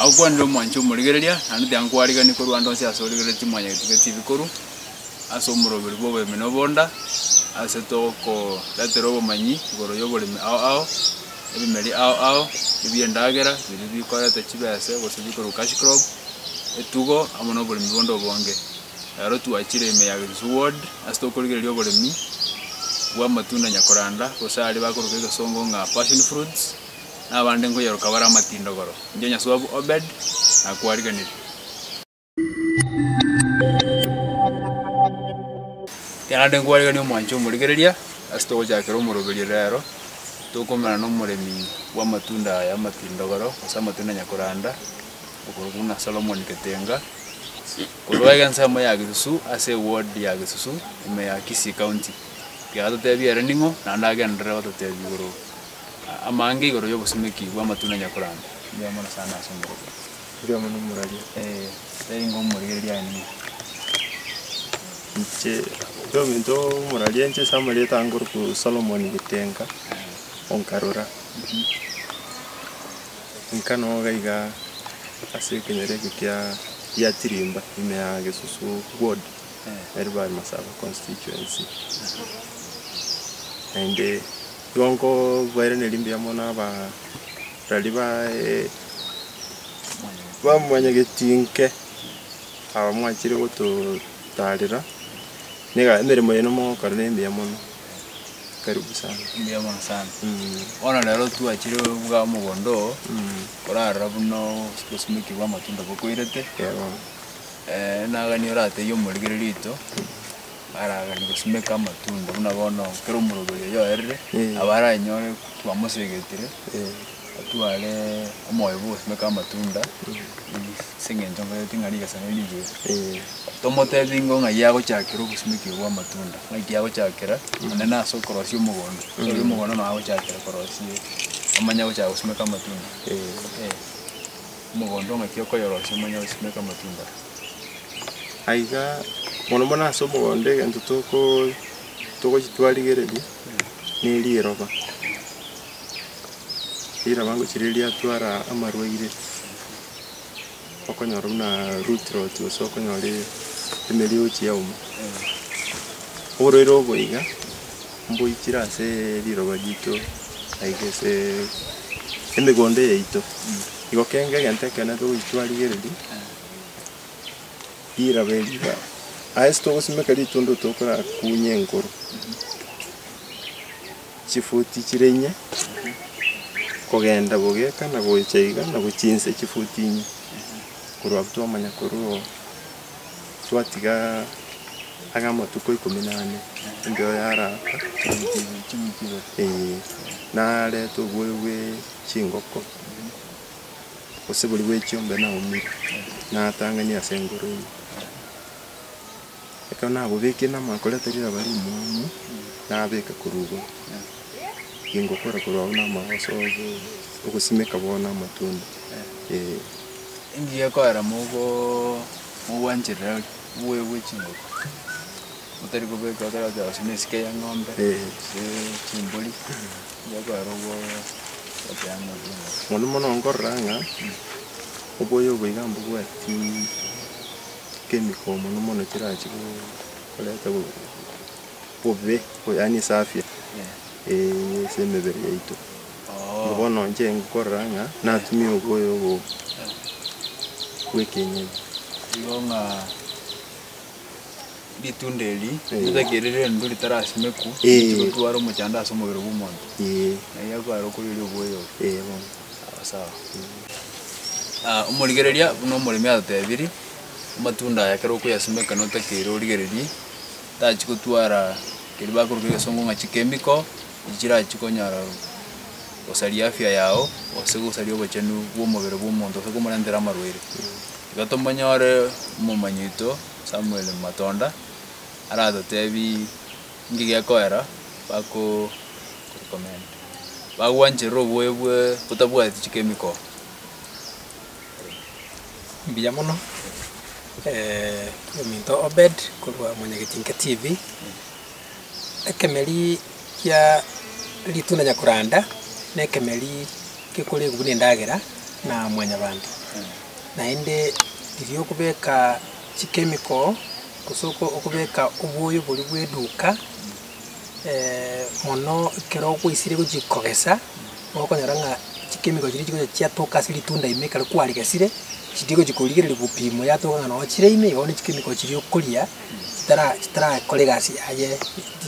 Na okwanire omwanche omorigereria, naende tiankwariganiri korwa ande onsi ase origereretie omwanyagetwe gete ebikuru, ase omoroberi bw'oboremi na obonda, ase tokoretera obomanyi igoro y'oboremi ao ao, ebimeri ao ao, ebi'endagera biria bikoreta chibese gose bikorwa cash crop, etugo, amo noboremi bonde obonge. Naro twachire ime ya Gitusu Ward ase tokorigereria oboremi bw'amatunda Nyakoranda, gose aria bakoroka egesongo ng'a passion fruits, na abande nkoyeroka bare amatindogoro. Inche Nyasuabu Obed nakwarigeneria. Naende nkwariganie omwancho omorigereria ase togochakera omoroberio rero, tokoumana nomoremi bw'amatunda aya amatindogoro, gose amatunda Nyakoranda, okorokwa buna Solomon Ketenga. Korwa ege ensemo ya Gisusu ase eward ya Gisusu ime ya Kisii County kiatotebia ere ning'o naende agenderere gototebia igoro amange igoro y'obosimeki bw'amatunda nyakorande. Mbuya mono sana ase omorero. Mbuya mono morwaria. Ee, tari ingo omorigereria aye ning'o? Inche buna ominto omorwaria inche ase amarieta ange orokwo Solomon Gitenga o Nkarura. Inka noga iga ase ekenyoro ekio kia Yatirimba ime ya Gesusu ward, Elbae Masaba constituency. Naende igo nkobairaneria mbuya mono abarari baye ba mwanyagetinke aba mwachire gototaarera, na emeremo yaino mogokora nemiya mono. karibu sana. Mbuya mono sana. Bono rero twachire buga omogondo oo, korarora buna obosibeki bwa amatunda bokoirete, nagani oratebie omorigereria oito, aragani gosimeka amatunda buna bono kera omoroberi oyoerire, abare anyore twamosegetire. Atware omoyo bw'obosio na kw'amatunda, ase engencho nkorete ng'a rigesang'ani rigere. Tomotebi ingo ng'ai agochakera obosimekigwa bw'amatunda, ng'ai ki agochakera, onde nase okorosia omogondo. Ase oria omogondo nonya agochakera korosia, omanye agochaka gosimeka amatunda. Eh, omogondo ng'aki okoyorosia omanye gosimeka amatunda. Aiga, mono mono ase omogondo egento toko togochia twarigereria, ne riroba. Riira bagochireria atwara amarwaire, okonyora buna root rot gose okonyora emerioch yauma. Oborwaire obo iga mboichire ase riroba rito like ase emegondo yaito. Igo kenge egento ekeene togochi twarigereria, riroba eri iga aye ase togosimeka ritundo tokorakunye enkoro. chifuti chire inye, kogenda bobe eka na gocha iga, na gochia inse chifuti inye, korwa abwo twamanya korwa oo twatiga ang'e amatuko ikomi na ane, engiya oyo araka eeh, narete oboyo bwe chingoko, gose boria bwe chiombe naumire, natang'ani ase engoro ime. Ekero nabobekire namakoreta riraba rimo amo, nabeka korwa igoro, ingokora korwa agwo namagoso ogosimeka bono na amatunda, eh. Engiya ekoera mogo mogwancherera aria, mogoegwe chingoko, motari kobeka ekero oteba gose na esike ya eng'ombe, gose chimbori, engiya ekoera obwate amo chingoko. Mono mono nkorora ng'a, oboyo obo iga mbobwati. kemikoo mono mono chirachi koreta bobe yaani ase afya eeh ase emebere yaito. Bono inche nkorora ng'a natumia oboyo obo bwa ekienyeji. Igo ng'a ritunda erii ritake rire endwe ritarasimekwa, rigotwara omochando ase omobere bwa omonto, nari akwarokwa riria oboyo obo. Omorigereria buna omoremi atotebiri, amatunda aya ekero okoyasimeka notakeire origererie, tachi gotwara keria bakoruga egesongo ng'a chikemiko, echi chirachi konyora gosaria afya yao, gose gosaria obochenu bwa omobere bwa omonto gose komorentera amarwaire. Igo tomonyore omomanyi oito Samuel Matonda aratotebi. Inki gekoera bako recommend bagwancherere oboyo bwe botabwati chikemiko? Mbuya mono ominto Obed korwa Mwanyagetinka TV. Ekemeri kia ritunda Nyakuranda na ekemeri gekoregwa buna endagera na mwanyabanto. Naende riria okobeka. Chika emikoo, gose okobeka obwoyo boria bw'eduka mono ekero okwaisirie gochia kogesa, nigo okonyora ng'a chika emikoo chiria chigocha chiatoka ase ritunda ime ekero kwarigesire, chiria chigochia korigereria gopimwa yatoka ng'a noo chire ime, igo bono chika emikoo chiria okoria chitara chitarakore egasi yaye eri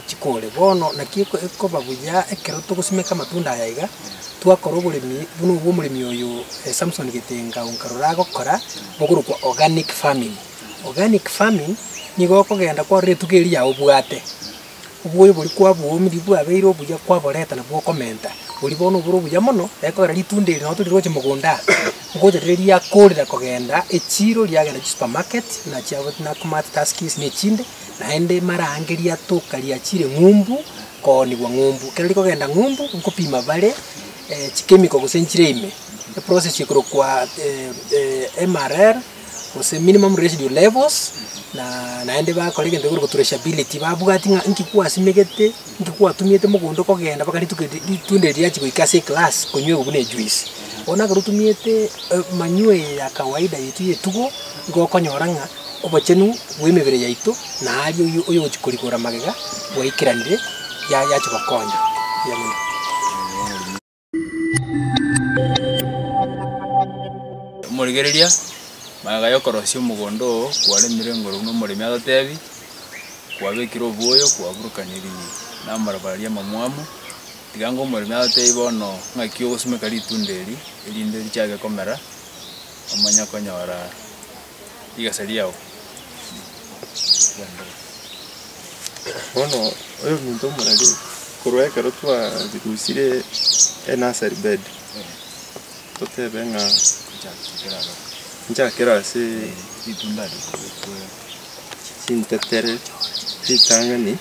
chikore. Bono naki eko ekoba buya ekero togosimeka amatunda aya iga, twakora oboremi buna obwo omoremi oyo Samson Gitenga o Nkarura agokora. Okorokwa organic farming, organic farming nigo okogenda kwarora etugo eria yao obwate, oboyo boria kwabwomirie bwabeire obuya kwaboreta nabwo okomenta, boria bono obore obuya mono, ekogera ritunda eri nabo tore gocha mogondo aa, ngocha riria riakorire kogenda echiro riagenda chisupermarket buna chia Nakumatt, Tuskys na echinde, naende marange riatoka riachire ng'umbu kooniwa ng'umbu. Ekero rikogenda ng'umbu, nkopima bare chikemiko gose nchire ime. eprocess ekorokwa MRR, gose minimum residue levels, na naende bakora egento ekorokwa traceability, babwati ng'a inki kwasimegete, inki kwatumiete mogondo okogenda mpaka rituko ri- ritunda eri riachi goika ase eglass konywewa buna ejuice. Bono ekero otumiete manure eye ya kawaida yaito ya etugo, nigo okonyora ng'a obochenu bwa emebere yaito na aria oyo oyogochia korigora magega bwaikaranire, ya- yachi gokonya. Erio nigo. Omorigereria, magega y'okorosia omogondo oo kwaremire igoro buna omoremi agotebi, kwabekire obuoyo, kwaburukaniririe namabara aria amamwamu, tiga ng'a omoremi agotebi bono ng'aki ogosimeka ritunda eri, erinde richake komera, omanye konyora. rigesa riao ri'endoro. Bono oyo ominto omorari korwa ekero twarigusire e nursery bed, totebe ng'a nchakera ase chintetere ritang'ani,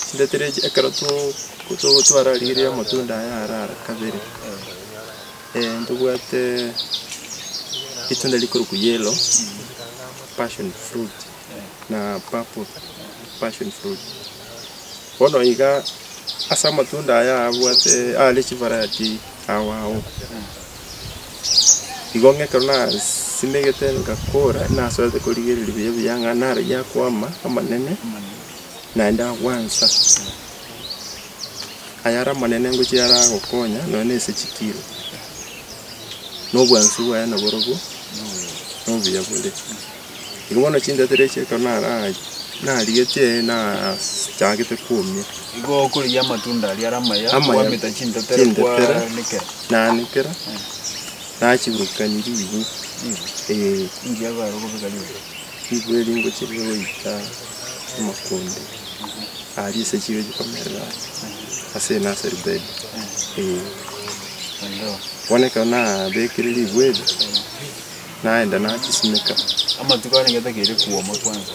chintetere echi ekero to- to- twararigirie amatunda aya ara kabere. Ntobwate ritunda rikorokwa yellow passion fruit na purple passion fruit. Bono iga ase amatunda aya abwate are chivariety ao ao. Igo ng'a ekero nasimegete ngakora nasorete korigereria buya buya ng'a naro yakwama amanene naende agwansa. ayare amanene ngochia ayare agokonya, nonya na ase chikiro, na obwansu bwaye naborobwo na obuya bore. Igo bono chintato eria echio ekero nara- narigetie nachagete komia, Igo okorigia amatunda aria are amaya, Amaya. kwamenta chintato eria Chintato eria. kwaanekera. naanekera, nachiburukania ribu, Ribu, eh. inki ekogera okobeka ribu? Nigo erio ingochia eria goika amakonde aria ase chigo echi komerera ase enaseri bed, eh. Bono ekero nabekire ribuwa erio, naenda nachisimeka. Amatuko aya nigo etakeire kwoma kwansa,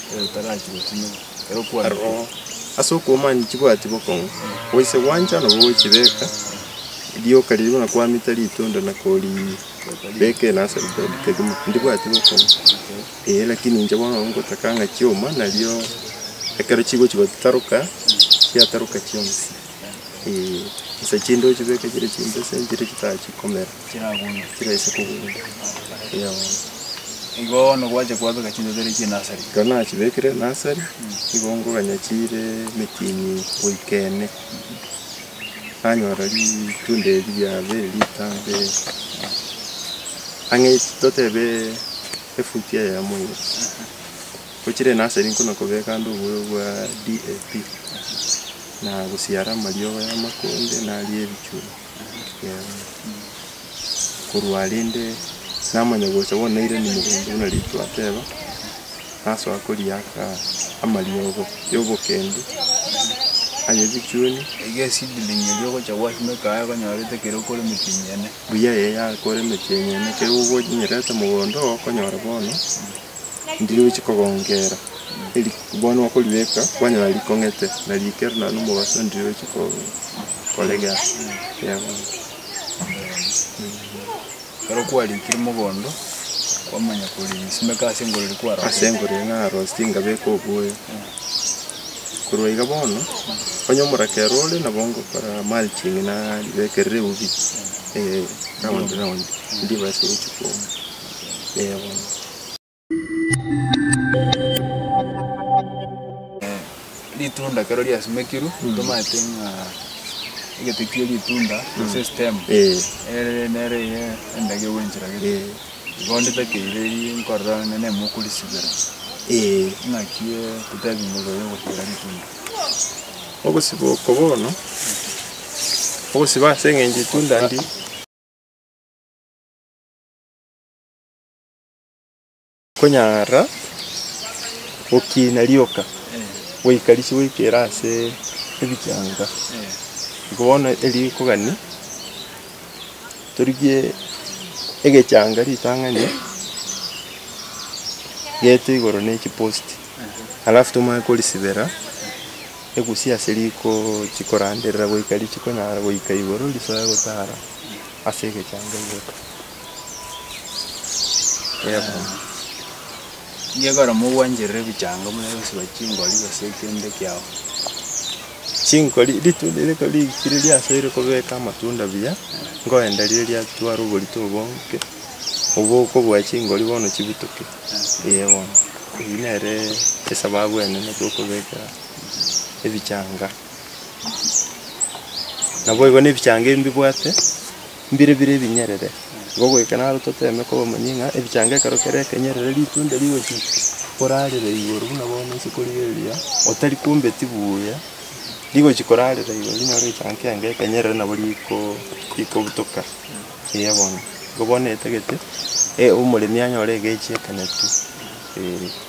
ekero etarachi gosimeka, ekero okwanire. Aroro, ase okwoma nchibwati bokong'u, goise gwancha nabo gochibeka, rioka riria buna kwamete ritunda na kori. beka eye nase ebitabu kegima, ndibwati gokora, eh lakini inche bono ngotaka ng'a chioma nario ekero chigochi gotaroka, chiataroka chionsi, eh, nsa chinde ochibeke chire chimbesa chire chitachikomera, chiraise kogunda, eeh bono. Igo bono gwacha kwabeka chimbesa chire chie nasari? Ekero nachibekire nasari, nigo nkoganya chire emetini goika ene. nanyora ritunda eri riabere ritambe ang'e totebe efuti eyemo iga, gochire enaseri nkona kobeka ande obuya bwa DAP, na gosiara amariogo y'amakonde naria ebichuri. korwa rende namanya gocha bono nairani mogondo buna Ritu ateba, nasoa koriaka amariogo ya obokendu aye ebichuni, Iga eseedling eria ogocha gwasimeka aye konyorete ekero okore emeti enyene. buya eye yakore emeti enyene ekero ogochinyerete mogondo oo okonyora bono ndiri ochi kogongera eri bono okoribeka kwanyora rikong'ete na rikere naende omobaso ndiri ochi ko- koregera, eeh bono. Ekero kwarikire mogondo, kwamanya korenge simeka ase engorere kwarosire. Ase engorere narosire ngabeka oboyo. Korwa iga bono, onye omoraka ero ore nabo ngokora mulching na ribekerere eubi round round, ndibase gochia kouma. Eeh bono. Ritunda ekero riasimekirwe tomanyete ng'a egete kia ritunda gose stem Eh. ere nere eye endagera gwenchera gete. Eh. Igo nditakeire erio nkorora onye nemo okorisibera. Eh. Naki totebi ng'a okonya kosibera ritunda. Ogosiba oko bono, ogosiba ase eng'encho itunda ndi. Konyara gokiina rioka goika risie goika ere ase ebichanga. Iko bono erio ikogania torigie egechanga ritang'ani gete igoro ne chiposti alafu tomanye korisibera egusia ase riko chikoranderera goika risikonyara goika igoro risoe gotara ase egechanga igoro. Yebo, igekora mogwancherere ebichanga buna egosuba chingori gose ekende kiao. Chingori ritunda riko rigikire riasoire kobeka amatunda buya, ngoenda rire riatwara oborito obo oke, obo okobua chingori bono chibutoke, eeh bono. Eyio nere esababu enene tokobeka ebichanga. Naboigo nebichanga ebibwate. mbire bire ebinyerere, igo goika naro toteeme kobamanyia ng'a ebichanga ekero kere ekenyerere ritunde rigochia korarera igoro buna bono isiko riria erio otari kombeti buya, rigochia korarera igoro rinyore egechaanga kiange ekenyerere nabo rikoo rikobutoka eeh bono. Igo bono etagete omoremi anyore egechi ekenepio eeh.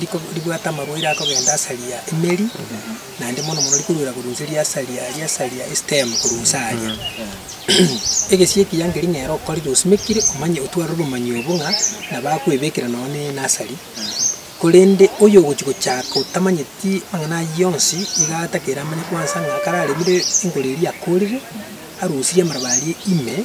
rikobwata amaroere akogenda asaria emeri, naende mono mono rikoruera korwa inse riasaria, riasaria estem korwa inse aaria. Egesie ekiya nkeri nere okorire osimekire omanye otware obomanyi obo ng'a nabo akwebekera nonye ne enasari, korende oyo ogochi gochaka otamanyeti amang'ana ayio onsi, iga atakeire amanye kwansa ng'a kare aremire enkoro eria akorire, arosirie amaraba aria ime,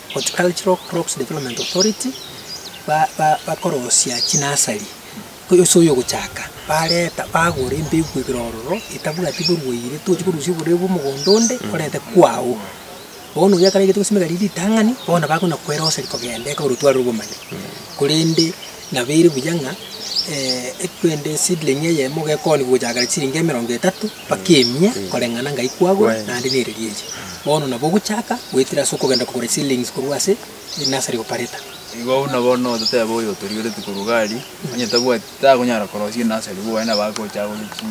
Horticultural Crops Development Authority, ba ba bakorosia chinasari, oyo ase oyogochaka, bareta bagora embegu igoro ororo, etabwati borwaire, tochi korusia oborwaire bwa omogondo onde orente kwago. Bono oria ekaraigete gosimeka riria ritang'ani, bono bakona koeroseria kogenda eka orotware obomani, korende. Nabeire buya ng'a equende seedling eyemo gekooni gochakera chisiringi emerongo etato mpaka emia koreng'ana ngai kwagora naende nereria eria. Bono nabo ogochaka goetera ase okogenda kogora eseedlings korwa ase enursery operator. Igo buna bono ototebe oyo otorigereti korwa gari onye tabwati takonyara korosia enursery igo gwaye nabo agocha agore chi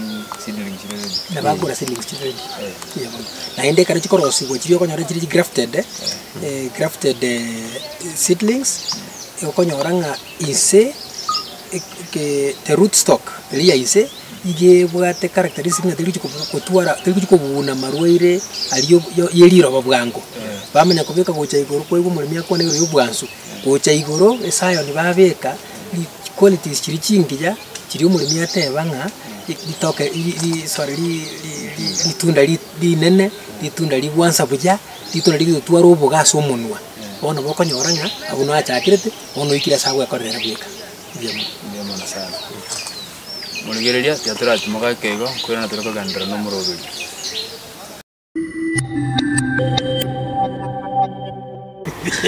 seedlings chire ready. Nabo akogora seedlings chire ready. Eeh. Eeh bono. Naende ekero chikorosiwa chiria okonyora chire chi grafted grafted seedlings. okonyora ng'a ise the root stock eri ya ise iga ebwate characteristic ng'a terigochi kotwara terigochi kobuna amarwaire aria ya ya riroba bwango. Bamanya kobeka gocha igoro kwaigwa omoremi akwane igoro ya obwansu, gocha igoro ase iron babeka ri chiqualities chiria chingiya chiria omoremi ateba ng'a ri ritoke ri ri sorry ri ri ri ritunda ri rinene, ritunda ribwansa buya, ritunda rigotwara oboga ase omonwa. Bono mokonyora ng'a agwo nachakerete, bono oikire ase agwekorera bweka ebiamate. Ebiamo Nyasae. Morigereria, tiatoratimoka eke igo, korende tore kogenderera nomoroberio.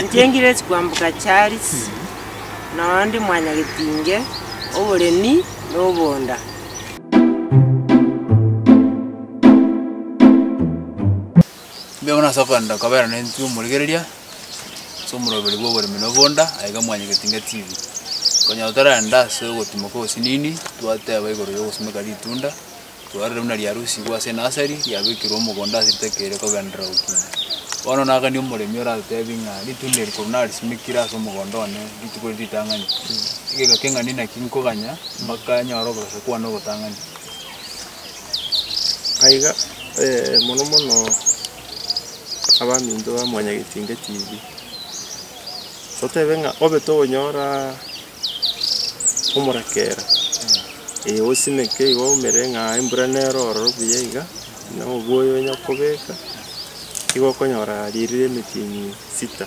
Inche ngire chikwamboka Charles, noyo ndi mwanyagetinge oboremi na obonda. Mbuya mono ase okorenda kobeera na intwe omorigereria, ase omoroberi bw'oboremi na obonda, aye iga mwanyegete inga chibi. Konyora torenda ase ogotimoka osinini, twateba igoro y'ogosimeka ritunda, twarorire buna riarusigwe ase enasari, riabekirwe omogondo ase ritakeire kogenderera gokinda. Bono nagani omoremi oratotebie ng'a ritunda eri korwa narisimekire ase omogondo one rituko riri ritang'ani, egeka keng'ani naki nkoganya mpaka nyore obosaku bwane obotang'ani. Aiga, ee, mono mono abaminto ba Mwanyagetinge TV, totebe ng'a obe tokonyora omorakera, ee osimeke igo oumere ng'a embura nero ororo buya iga, na oboyo onya kobeka, igo okonyora riria ria emetini sita.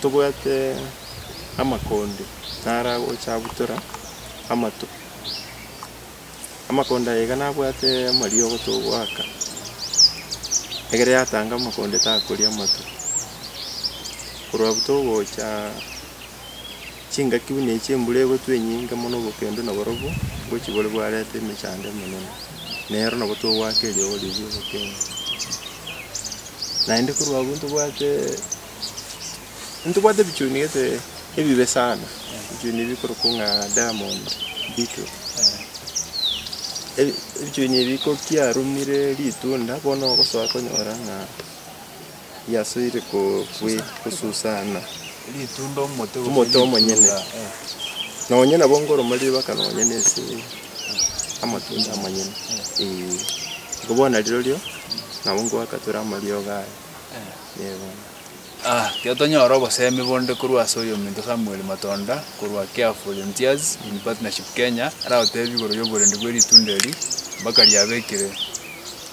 Tobwate amakonde naragocha abutora amato, amakonde aye iga nabwate amariogo togoaka, egere yatanga amakonde takoria amato. Korwa abwo togocha chingaki buna echi embura egotwa enyinge mono obokendo na barobwo, ngochibore bwareta emechando emenene, nero nabo togoaka eriogo riria obokima. Naende korwa abwo ntobwate. Ntobwate ebichuni gete ebibe sana, ebichuni bikorokwa ng'a diamond, beetle. Ebi- ebichuni ebi kokiarumire ritunda bono ogosoa konyora ng'a riasoire ko- kwe- kosusana Ritunda omote gose omote omonyene. ritunda, eh. Nonye nabo nkoroma ribaka nonye na ase amatunda amanyene, eh. Igo bono rirorio, nabo ngoaka tore amariogo aya. Ekero tonyora obosemi bonde korwa ase oyominto Samuel Matonda korwa Care Volunteers in Partnership Kenya, aragotebie igoro y'oborendi bwe ritunda eri mpaka riabekire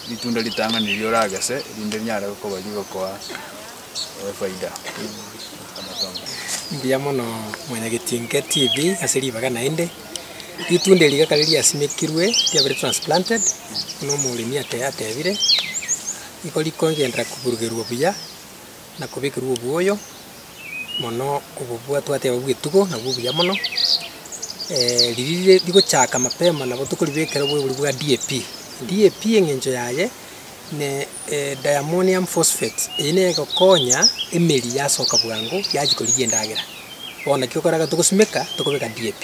ritunda ritang'ani riria oragese erinde rinyare koba rigokoa efaida. Mbuya mono Mwanyagetinke TV ase ribaga naende. Ritunda eri iga kare riasimekirwe riabire transplanted, buna omoremi ake atebire. Nigo rikongenderera koburugerwa buya na kobekerwa obuoyo mono obobwato ateba bw'etugo nabwo obuya mono. Riria rigochaka mapema nabo tokoribekera oboibori bwa DAP. DAP eng'encho yaye ne diammonium phosphate, eye nigo egokonya emeri yasoka bwango yachia korigia endagera. Bono naki okoraga togosimeka tokobeka DAP.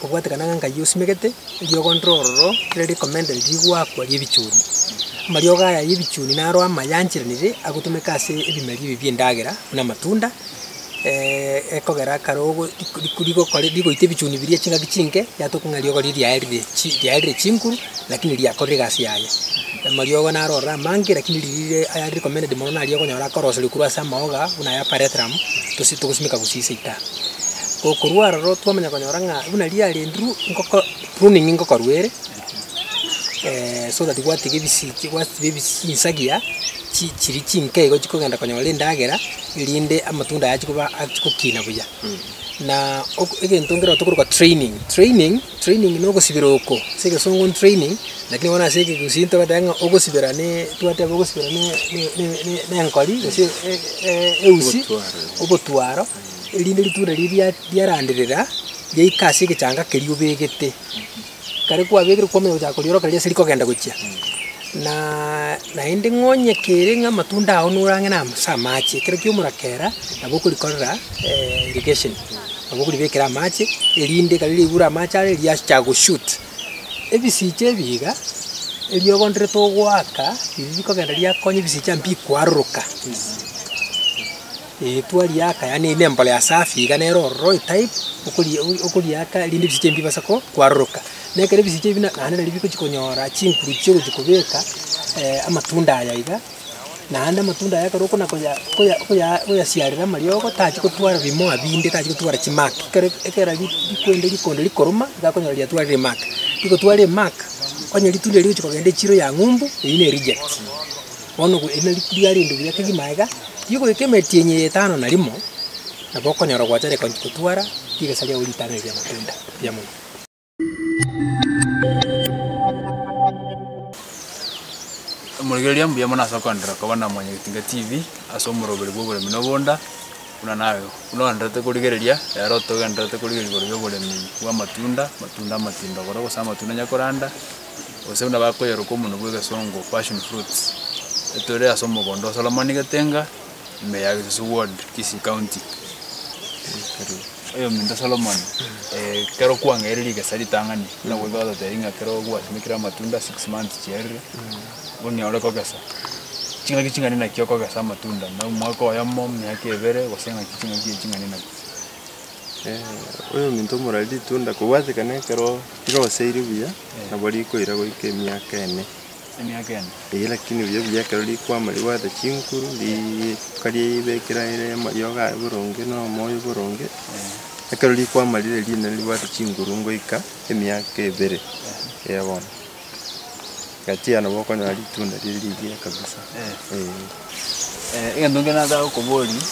kobwatekana ng'a Nkai osimegete, eriogo ndiro ororo ekero recommended rigwakwa ri'ebichuni. Amariogo aya y'ebichuni naro amaya ancheranire agotumeka ase ebimeria ebi bi'endagera buna amatunda ekogera kare ogo rik- rik- rigokore rigoita ebichuni biria chingaki chinke, yatoka ng'a eriogo riria riaerire chi riaerire chinguru lakini riakorire egasi yaye. Amariogo naro ororo amange lakini riria ayare recommended mono naria okonyora akoroseria korwa ase amaoga buna aya parathrum, tosi togosimeka gosii seita. Gokorwa aroro twamanya konyora ng'a buna riria riarendire ngoko pruning ngokorwa ere, so that gwatiga ebisiki gwatiga ebisi chinsagia chi chiri chinke igo chikogenda konyora endagera, erinde amatunda aya achikoba achi gokina buya. Naa oko egento nkere otokoroka training, training training na ogosibera oko, ase egesongo training, lakini bono ase egegusii ntogoteba ng'a ogosibera ne twateba ogosibera ne ne ne ne nenkori gose e- e- eusi obotwaro. erinde ritunda riria riaranderera riaika ase egechanga keria obegete. Ekero kwabegire kwamanya gochaka korioroka riria ase rikogenda gochia, na naende ng'a onye kere ng'a amatunda ao norang'e na ase amache, ekero kiaumora kera, nabo okorikorera irrigation, nabo okoribekera amache, erinde ekero riaigure amache are riachaka go shoot. Ebisicha ebi iga, erio ogonderete ogoaka, riria rikogenda riakonya ebisicha mbikwaroroka. Eritwa riaka, yaani ne mbolea safi iga nero ororo etype okori okoriaka rinde ebisicha ebi mbibase ko kwaroroka. Na ekero ebisicha ebi na naende nari bigochi konyora chinguru chiogochi kobeka amatunda aya iga, naende amatunda aya ekero okona koya koya koya koyasiarera amariogo tachi kotwara bimoa binde tachi kotwara chimark ekero ekera bi bikoende rikondo rikoruma iga okonyora riatwarire mark. Rigotwara emark, onye ritunda rigochi kogenda echiro ya ng'umbu, eyio ne reject. Bono gwe erinde riku riaye rinde buya kegima aiga, tiga goika emetienyi eye etano na rimo, nabo okonyora gwachare konsi gotwara rigesa riao ritanane ri'amatunda. Mbuya mono. Omorokereria mbuya mono ase okoenderera koba na Mwanya Getinga TV ase omoroberi bw'oboremi na obonda buna naye. Buna oenderete korigereria, ere otogendererete korigereria igoro y'oboremi bw'amatunda, amatunda amatindo goro gose amatunda onye koranda. gose buna bakoyeroka omonwe bw'egesongo, passion fruits, etore ase omogondo o Solomoni Getenga, ime ya Gesusu ward, Kisii county. Oyominto Solomoni, eh, ekero kwang'eire rigesa ritang'ani, buna goika gototebia ng'a ekero gwasimekire amatunda six months chiarire, onye ore kogesa, ching'aki ching'ani naki okogesa amatunda, na omwaka oyomo, miaka ebere, gose ng'aki ching'aki echi ching'ani naki. oyominto omorware ritunda kobwatekana ekero riroseire buya, nabo rikoira goika emiaka ene. Emiaka ene. Eeh lakini buya buya ekero rikwama ribwate chinkuru, rika ribekire aye amariogo aye boronge na omoyo boronge, ekero rikwama rire rinene ribwate chinguru ngoika emiaka ebere, eeh bono. Gachia nabo okonyora ritunda riria rigiya kabisa eh. Egento nkere nataka gokoboria,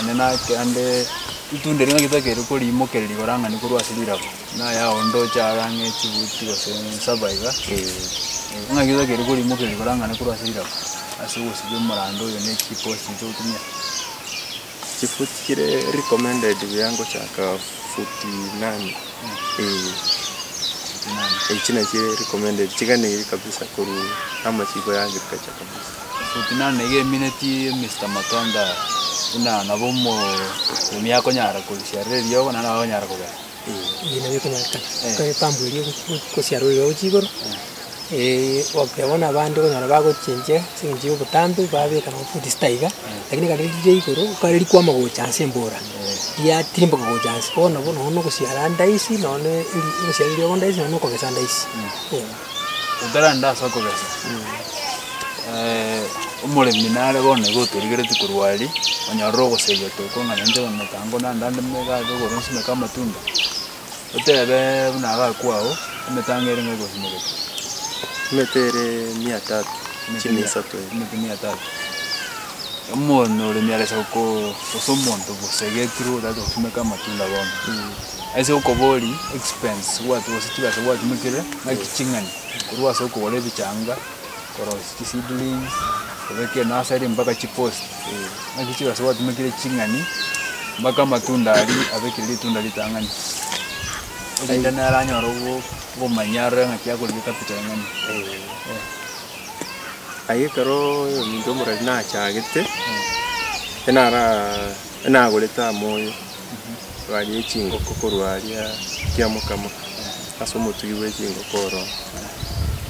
onye nake ande itunda erio naki tokeire korimokereria igoro ang'e ni korwa ase rilago, na yaya onde oche aare ang'e chibuti gose saba iga, ng'aki tokeire korimokereria igoro ang'e ni korwa ase rilago ase ogosiba omorando oyo ne chiposti chiaito gotumia. Chifuti chire recommended buya ngochaka futi inani eh, echio nachio chire recommended chiganeirie kabisa korwa namachiko ya agriculture kabisa. Futi inani nigo emineti Mister Matonda buna nabo omo- omia akonyara korusia rire eriogo naende nabo akonyara kogesa. Ebi nabio ekonyarekana, ekero epambu eria egosiarorera gochia igoro, okoteba bono abande okonyora bagochinchia ase eng'encho ya obotambe, babeka nabo futi sita iga, lakini ekero riria riria igoro, ekero rikwama gocha ase embura, riatimboka gocha ase, bono nabo nonye na ogosiara ndaisi, nonye na eri ogosiara eriogo ndaisi, nonye na okogesa ndaisi, eh. otarende ase okogesa, omoremi nare bono igo otorigeretie korwa aria, onyorire ogosegi ati okong'ana inche bono ekeango naende ande megaka igoro nsimeke amatunda, otebe buna iga kwao, emetango ere nigo egosimekete. Emete ere mia tatu, chimi isato iga. Emete mia tatu. Omoremi ore sa ko- gose omonto bosegi ekirwe otaete gosimeka amatunda bono. Ase okobori expense gwatwo gose chibesa gwatumekire naki ching'ani korwa ase okogora ebichanga koros chi seedlings kobeka enasari mpaka chipost naki chibesa gwatumekire ching'ani mpaka amatunda aria abekire ritunda ritang'ani erinde nere anyore obo obomonyia arore ng'aki akorwa ecapital eng'ani eh. Aye ekeroo ominto omorwari nachagete, enara enagorete aa moyo. barie chingoko korwa aria kiamokama ase omotugi bwe chingoko oro.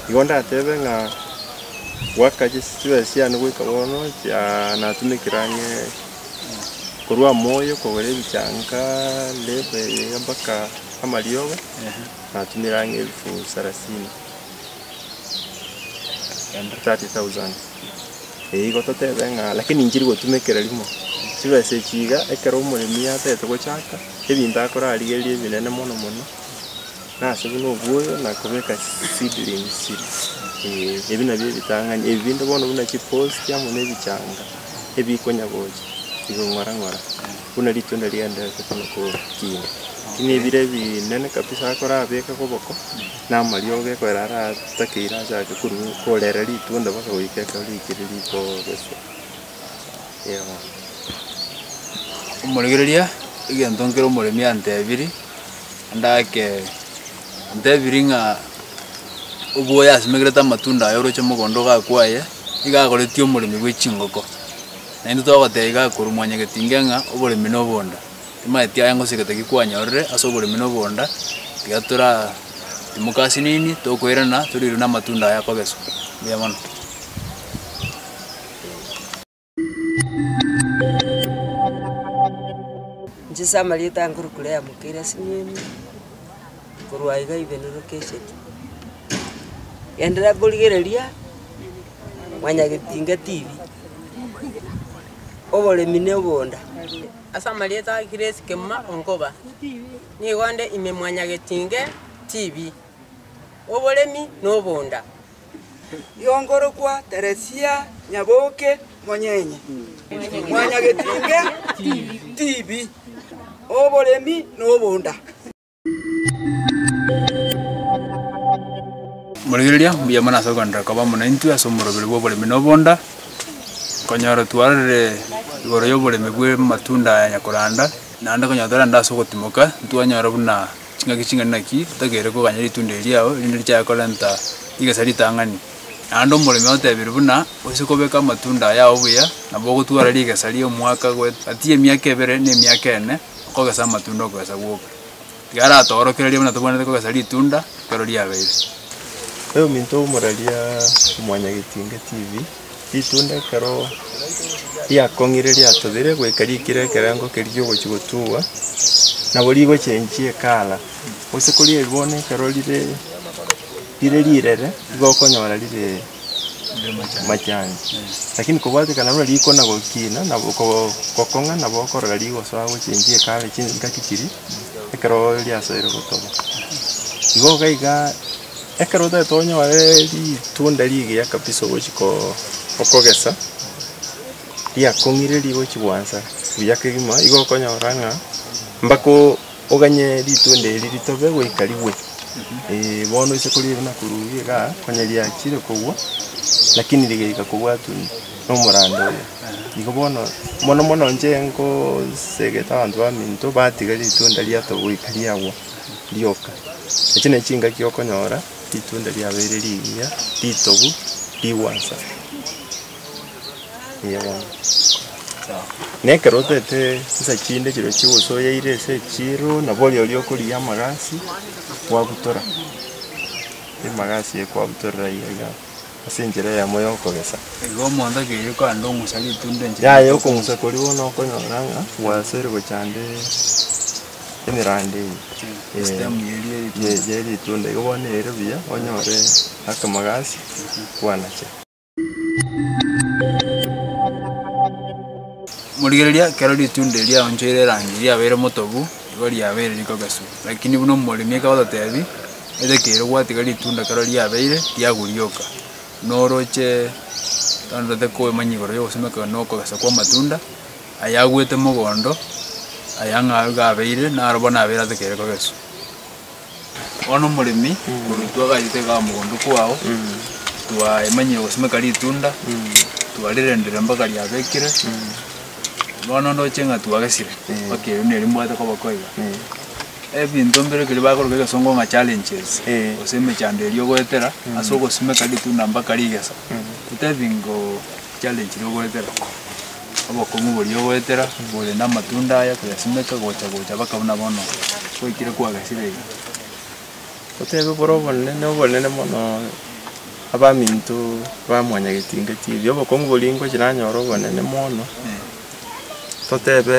Igo ndatebe ng'a goaka chis- chibesa chiane goika bono chiaa natumekera ang'e korwa moyo kogora ebichanga, reberi mpaka amariogo, natumire ang'e elfu sarasini. and thirty thousand. Eyi igo totebe ng'a lakini nchiri gotumekera rimo, chibesa echi iga ekero omoremi atete gochaka, ebinto akorarigereria ebinene mono mono, nase buna obuoyo na kobeka seedlings chire, eeh ebi nabio ebitang'ani, ebi binde bono buna chipost amo na ebichanga, ebikonya gocha bikong'ora ng'ora buna ritunda rigendererete kono kogima, lakini ebire ebinene kabisa akorabekek oboko. na amariogo ekorera ara atakeire ase ake korwa korera ritunda mpaka goika ekero rikire rikogeswa. Omorigereria egento nkere omoremia antebiri, ande ake antebiri ng'a oboye asimegerete amatunda aye oroche mogondo ogakwaye, iga agoretie omoremi bwe chingoko. Naende togoteba iga korwa mwanyagetinge ng'a oboremi na obonda. Timanyeti aye ngose egete ki kwanyorire ase oboremi na obonda, tiga tora timoke ase nini, tokoirana, toriirwe na amatunda aya akogeswa. Mbuya mono. Inche ase amarieta aye nkorwa Claire Mukere ase Nyeri, korwa aiga Ibeni Lokecheti. Genderera korigereria Mwanyagetinga TV, oboremi na obonda. Ase amarieta a Grace Kemuma Onkoba, nigo onde ime mwanyagetinge TV, oboremi na obonda. Yongorokwa Teresia Nyaboke Monyenye, mwanyagetinge TV, oboremi na obonda. Morigereria, mbuya mono ase ogoanderera koba amo naintwe ase omorobero bw'oboremi na obonda, konyora twarorire igoro y'oboremi bw'amatunda aya nyakoranda, naende konyora tore ande ase ogotimoka, ntwanyora buna ching'aki ching'ani naki togeire koganya ritunda eri riao erinde richaye korenta rigese ritang'ani. Naende omoremi otebire buna oise kobeka amatunda aya ao buya, nabo ogotwara rigesa ri'omwaka gwe gati y'emiaka ebere na emiaka ene. Okogesa amatunda okogesa gwoka. Tiga aratoorokererie buna tobwenerete kogesa ritunda ekero riabeire. Ee ominto omoraria Mwannya Getinge TV, ritunda ekero riakong'ire riatobire goika riikire ekerengo keria giogochia gotugwa, nabo rigochenjia ekala, gose kori bono ekero rire rire rirere, igo okonyora rire. machangi. Lakini kobwate kana buna riko na gokina na go- gokong'a nabo okorora rigoso agochenchie ekabe chi- engaki chiria, ekero riasoire gotoba. Igo iga iga ekero otagete onyore ritunda rigiya kabisa ogochi ko- okogesa, riakong'ire rigochi gwansa buya kegima, igo okonyora ng'a mpaka o- Oganye ritunda eri ritobe goika rigwe. Ee, bono oise koria ebibe na korwa ubi igaa, onye riachire kogwa, lakini rigaika kogwa tuni nomorando oye. Igo bono, mono mono inche ngosegete abanto baminto batiga ritunda riato goika riagwa rioka. Echi nachi chingaki okonyora ritunda riabeire rigiya, ritobu, rigwansa. Eeh bono. Na ekero otaete chisa chinde chiria chigosoyeire ase echiro, nabo oria oria okorigia amagasi, kwabutora, emagasi eye kwabutorera aye iga ase enchera eyemo ya okogesa. Igo omonto ekero okogenda ong'usa ritunda enchera Yaya ritunda okong'usa koria bono okonyora ng'a gwasire gochande emerande eye. Eh, estem yeria ye- eritunda. ye- yeritunda igo bono ere buya onyore akamagasi, kwanache. Morigereria, ekero ritunda erio riaonchoire erangi riabeire motobu, nigo riabeire riko gesu. Lakini buna omoremi akagototebi, Ete kere gwatiga ritunda ekero riabeire, tiago rioka, buna oroche tandorete koemanya igoro y'ogosimeka na okogesa kw'amatunda, ayagwete mogondo, aya ng'a iga abeire, naro bono abeire ate kere kogesu. Bono omoremi korwa intwe agayeteka mogondo kwao, twaemanyire gosimeka ritunda, twarirendire mpaka riabekire, bono ndoche ng'a twagesire mpaka erio neri mbwate koba koiga. Ebinto mbire ekeri bakoroka egesongo ng'a challenges, gose emechando eria ogoetera ase ogosimeka ritunda mpaka rigesa, totebi ngo challenge ri'ogoetera. Obokong'u boria ogoetera bore namatunda aya koyasimeka gocha gocha baka buna bono gwaikire kwagesireire. Otebe bore obonene obonene mono abaminto ba mwanyagetinga chiria, obokong'u boria ingo chiranyore obonene mono, totebe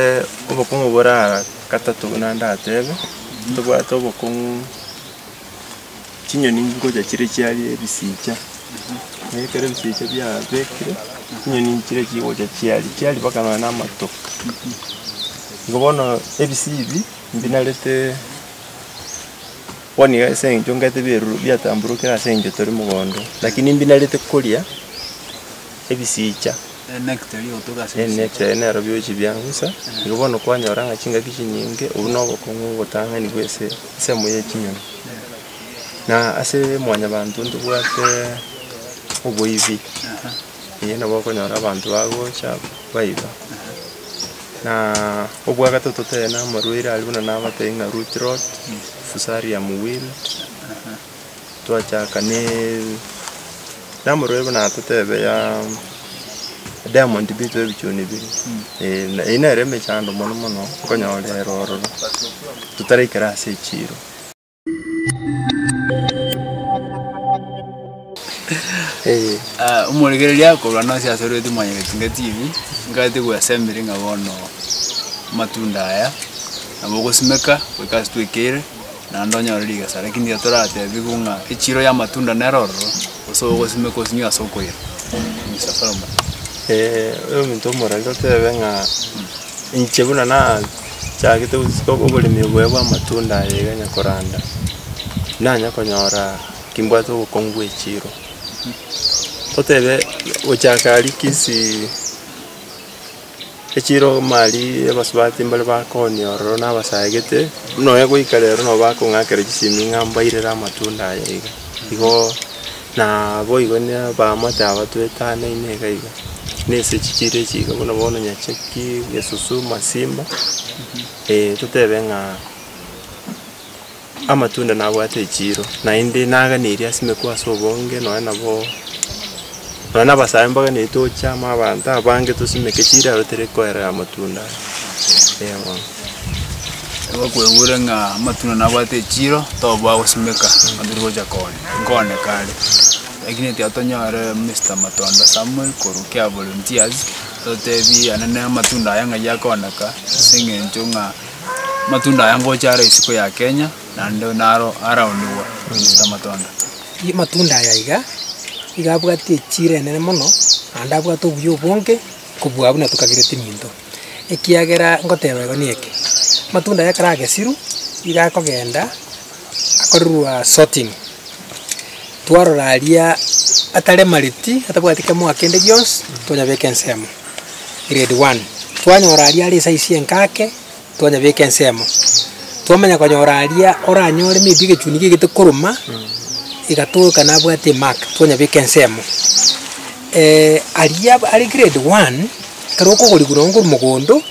obokong'u bore aa gatato buna ndatebe, tobwate obokong'u. chinyoni ngocha chire chiarie ebisicha, na ekero ebisicha biabekire, chinyoni nchire chigocha chiarie, chiarie mpaka nonya na amato. Igo bono ebisii ebi, mbinarete bono iga ase eng'encho ngete bieru biatamborokire ase eng'encho tore mogondo, lakini mbinarete koria. ebisiicha, n'eneteyo nero biochi biangusa, igo bono kwanyora ng'a chingaki chinyinge, obwo nobokong'u obotang'ani bw'ense ensemo ye chinyoni. Na ase mwanyabanto ntobwate oboibi, ee nabo okonyora abanto bagocha baiba. Na obwagatato totebe namarwaire aria buna nabatebi ng'a root rot, fusarium wilt. twachaka ne namorwaire buna totebe ya diamond bituba ebichuni bire na eyio nere emechando mono mono nkonyorera ororo totaraikera ase echiro. Omorekereria akorwa nonsi ase orweti Mwanyagetinga TV, nkaete gwesemire ng'a bono amatunda aya nabo ogosimeka goika ase twekeire. naende onyore rigesa, rakini iga toratebigwe ng'a echiro y'amatunda nere ororo, gose ogosimeka osinywe ase okoira. Mister Solomon. oyominto omorwari gotebe ng'a inche buna nachagete gosika oboremi oboye bw'amatunda aye iga nyakoranda, nanya konyora kimbwate obokongu bwa echiro. Totebe gochaka rikisi. Echiira omari abasubati mbare bakooni ororo nabasagete, buna oye goika rero nabo bakong'akera chisemi ng'a mbairere amatunda aya iga, igo na boigo ne abaamate aba twetanaine iga iga, na ase chichiira echi iga buna bono nyachaki, esusu, masimba, totebe ng'a. Amatunda nabwate echiiro, naende naganeirie ase emeku ase obonge, nonya nabo nonya na abasae mbaganeiri tochame abanto abange tosimeke chiraro tiri koerera amatunda aya, eh bono. Nigo okoigure ng'a amatunda nabwate echiiro, toba ogosimeka ng'a tori gocha koonia, nkooneka are. Lakini ekiagera tonyore Mister Matondo Samuel korwa Kiavolunteers, totebie aye nere amatunda aye ng'ai akooneka ase eng'encho ng'a. Amatunda aya ngocha aro isiko ya Kenya, naende naro araonigwa gochia amatunda. Amatunda aya iga, iga abwate echiro enene mono, naende abwate obuya obonge kobua buna tokagereti minto, ekiagera ngoteba igo ne eke, amatunda aya ekero agesirwe, iga akogenda akorerwa sorting, twarora aria atare mareti, atabwati kemoa kende gionsi, twanyabeka ensemo. Grade one. Twanyora aria are esize enka ake, twanyebeka ensemo. Twamanya konyora aria oranyore maybe egechuni kegete koruma, iga toka nabwate emark, twanyebeka ensemo. aria are grade one, ekero okogorigwa nonye korwa mogondo,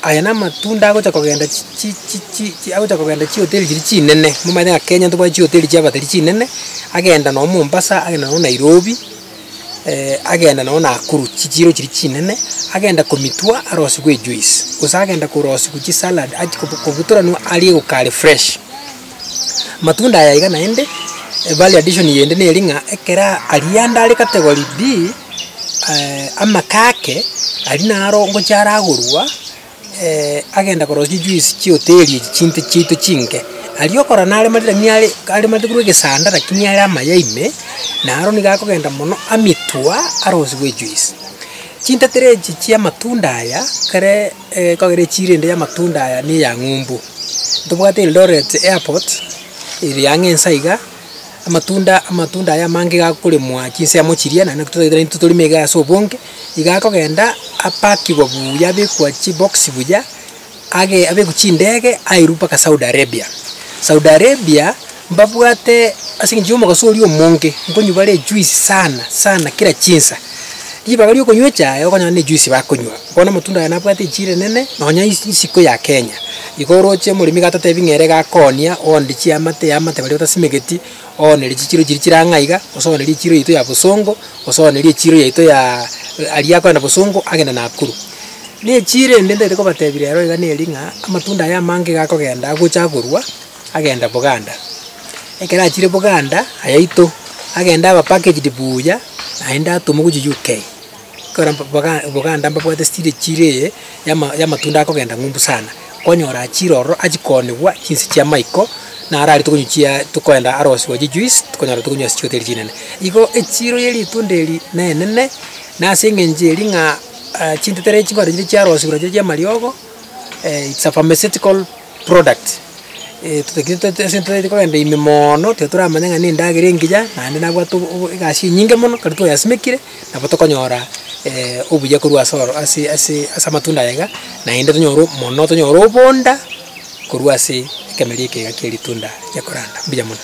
aye namatunda agocha kogenda chi chi chi chi chi agocha kogenda chihoteli chiria chinene, momanyete ng'a Kenya ntobwati chihoteli chiaba tari chinene, agenda nonye Mombasa, agenda nonye Nairobi. agenda nonya Nakuru, chichiiro chiria chinene, agenda komitwa arosiwe ejuice, gose agenda korosiwa chisalad achi kobu kobutoranwa arie gokare fresh. Matunda aya iga naende, value addition yende neri ng'a ekero aria ande are category B, amaka ake, aria naro ngochia aragorwa. agenda korora chijuice chioteri echi chinto chiaito chinke. Aria okorora nare mari rakini are are mate korwa egesanda rakini are amaya ime, naro nigo akogenda mono amitwa arosiwe ejuice. Chintetera echi chi'amatunda aya, kere ekogera echiro ende y'amatunda aya na eya ng'umbu. Ntobwate Eldoret airport, ere ang'e nsa iga. amatunda amatunda aya amange iga akoremwa chinsemo chiria naende naki totaete intwe torime iga ase obonge, iga akogenda apakigwa buya abekwa chibox buya, age abekwe chindege airwe mpaka Saudi Arabia. Saudi Arabia, mbabwate ase eng'encho ya omogaso oria omonge, nkonywa bare ejuice sana sana kera chinsa. Ribaga riokonywa echae okonyora nejuice bakonywa. Bono amatunda aya nabwate enchiri enene, nonya isiko ya Kenya. Igo oroche omoremi gatotebi ng'a ere gakonia, oonde chiamate yamate baria batasimegeti, oonere chichiro chiria chire ang'e aiga, gose oonere echiro yaito ya bosongo, gose oonere echiro yaito ya aria akorenda bosongo agende Nakuru. Na echiro ende ntaete kobatebi rero iga neri ng'a, amatunda aya amange iga akogenda agocha agorwa, agenda Buganda. Ekero achire Buganda ayaito, agende aba packaged buya, naende atomwe gochia UK. Ekero mba- Buganda mbabwate stiri chire eye yama- yamatunda akogenda ng'umbu sana, kwanyoraa chiro ororo achikonigwa chinse chia maiko, naro aria tokonywa chia tokoenda arosi gwa chijuice, tokonyora tokonywa ase chihoteli chinene. Igo echiro ye ritunda eri nenene, nase eng'encho eria ng'a chintetera echibare chire chiarosiwa nachiria chiamariogo, it's a pharmaceutical. product, totagete tote ase totaete kogenda ime moono, tiga toramanye ng'a nendagera engiya, naende nabwate obo obo egasi enyinge mono, ekero twayasimekire, nabo tokonyora obuya korwa ase oro ase ase ase amatunda aya iga, naende tonyore o mono tonyore obonda, korwa ase ekemeria eke iga kieritunda ria koranda, mbuya mono.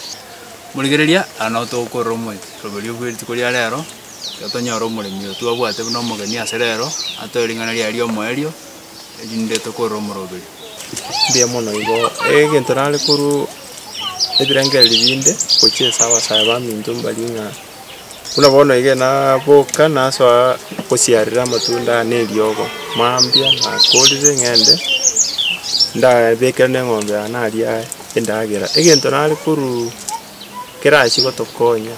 Morigereria, aya nabo togokorera omo roberio bwe rituko ria rero, ekero tonyora omoremi oyo twabwate buna omogeni ase rero, atoe ring'ana riaye riomoerio. erinde tokorora omoroberio. Mbuya mono igo, egento nare korwa ebirengererio binde gochia ase abasae baminto mbarie ng'a buna bono iga naboka nasoa gosiarera amatunda aya na eriogo, mambia nakorire ng'ende ndabekere na eng'ombe yane aria endagera, egento nare korwa. kerachie gotokonya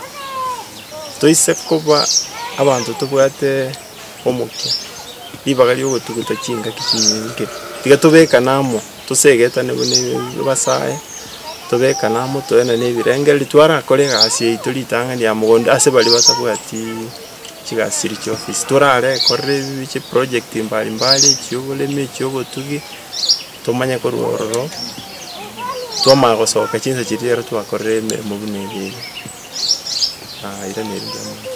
toise koba abanto tobwate omokia, ribaga riogotuguta chingaki chinyinge. Tiga tobekane amo, tosegetane buna abasae, tobekane amo toenane ebirengereri, twarakora egasi yaito ritang'ani ya mogondo ase baria batabwati chigasi chiria chia ofisi, torare korera ebi chiprojekti mbari mbari, echioboremi, echiobotugi. tomanye korwa ororo, twamanya gosoka chinsa chiria ekero twakorire emeremo buna eye iga. Aah iga neri ndiamanyete.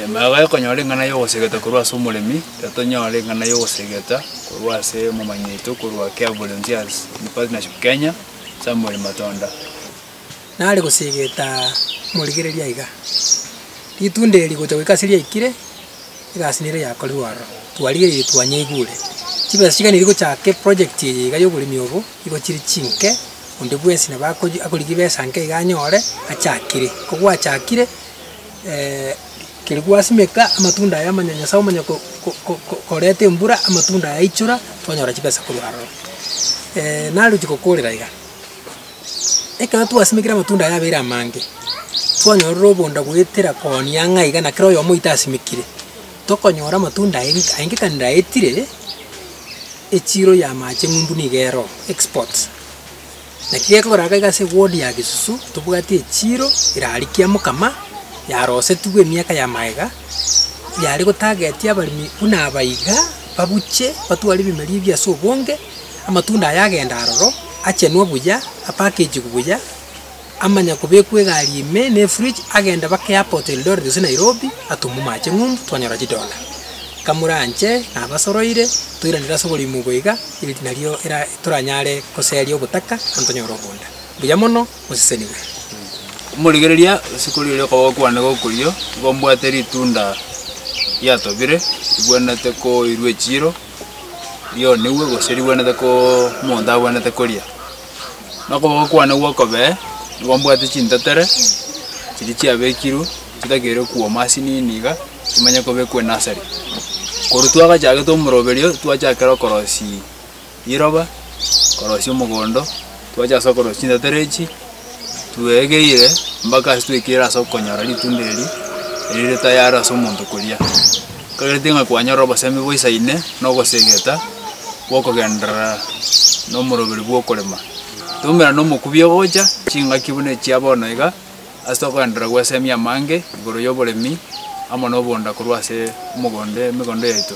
Maya gaki konyora eng'ana ya ogosegeta korwa ase omoremi, riria tonyora eng'ana ya ogosegeta korwa ase omomanyeito korwa Care Volunteers in Partnership Kenya, Samuel Matonda. nare gosiigeta morigereria aiga. Ritunda eri gocha goika ase riaikire, egasi nere yakorirwe aroro, twarigereiri twanyeigure. Chibesa chiga niri gochaka eproject eye iga yoboremi obo, nigo chiri chinke, onde bwensi nabo akoji akorigia ebesa nke iga anyore, achakire. Ko gwachakire, keri gwasimeka, amatunda aye amanya Nyasae omanya ko- ko- ko- ko koreta embura, amatunda yaichora, twanyora chibesa korwa aroro. narochi gokoorera iga. Ekero twasimekire amatunda aya abere amange, twanyorire obonda goetera koonia ng'a iga na kera oyomo oito asimekire, tokonyora amatunda aye nka aye nka ndaetire echiro y'amache ng'umbu nigo ero export. Naki gekogera iga iga ase eward ya gesusu, tobwate echiro erarikia mokama, yarosetigwe emiaka ya maega, yare gotagetia abaremi buna aba iga, babuche batware ebimeri ebi ase obonge, Amatunda aya agenda aroro, achenwa buya, apackagigwe buya, amanya kobekwa egari ime ne fridge, agende mpaka airport Eldoret gose Nairobi, atumuma ache ng'umbu, twanyora chidollar. Nkamoranche, nabasoroire, toiranire ase oborimo obo iga, eri nario era toranyare goseria obotaka, naende tonyore oboonda. Mbuya mono, mosesenigwe. Omorigereria osikori oria okaba ogokwana iga okorio, igo mbwate ritunda riatobire, ribuanete koirwa echiiro. rionigwe gose ribwenerete koo omonto abwenerete koria. Na okoboko kwane gw'okobee nigo mbwate chintetere chiria chiabekirwe chitakeire kwoma ase nini iga, chimanye kobekwa enasari. Korwa twagachagete omoroberio twachakera okorosia riroba, okorosia omogondo, twacha ase okorosia chintetere echi. twegeire mpaka ase twaikire ase okonyora ritunda eri rire tayari ase omonto koria. Twereti ng'a kwanyora obosemi boisaine na ogosegeta gwa okogenderera na omoroberi bwa okorema. Toumera na omokubi ogocha ching'aki buna echia bono iga ase okogenderera gwesemia amange igoro ya oboremi amo na obonda korwa ase omogondo emegondo yaito.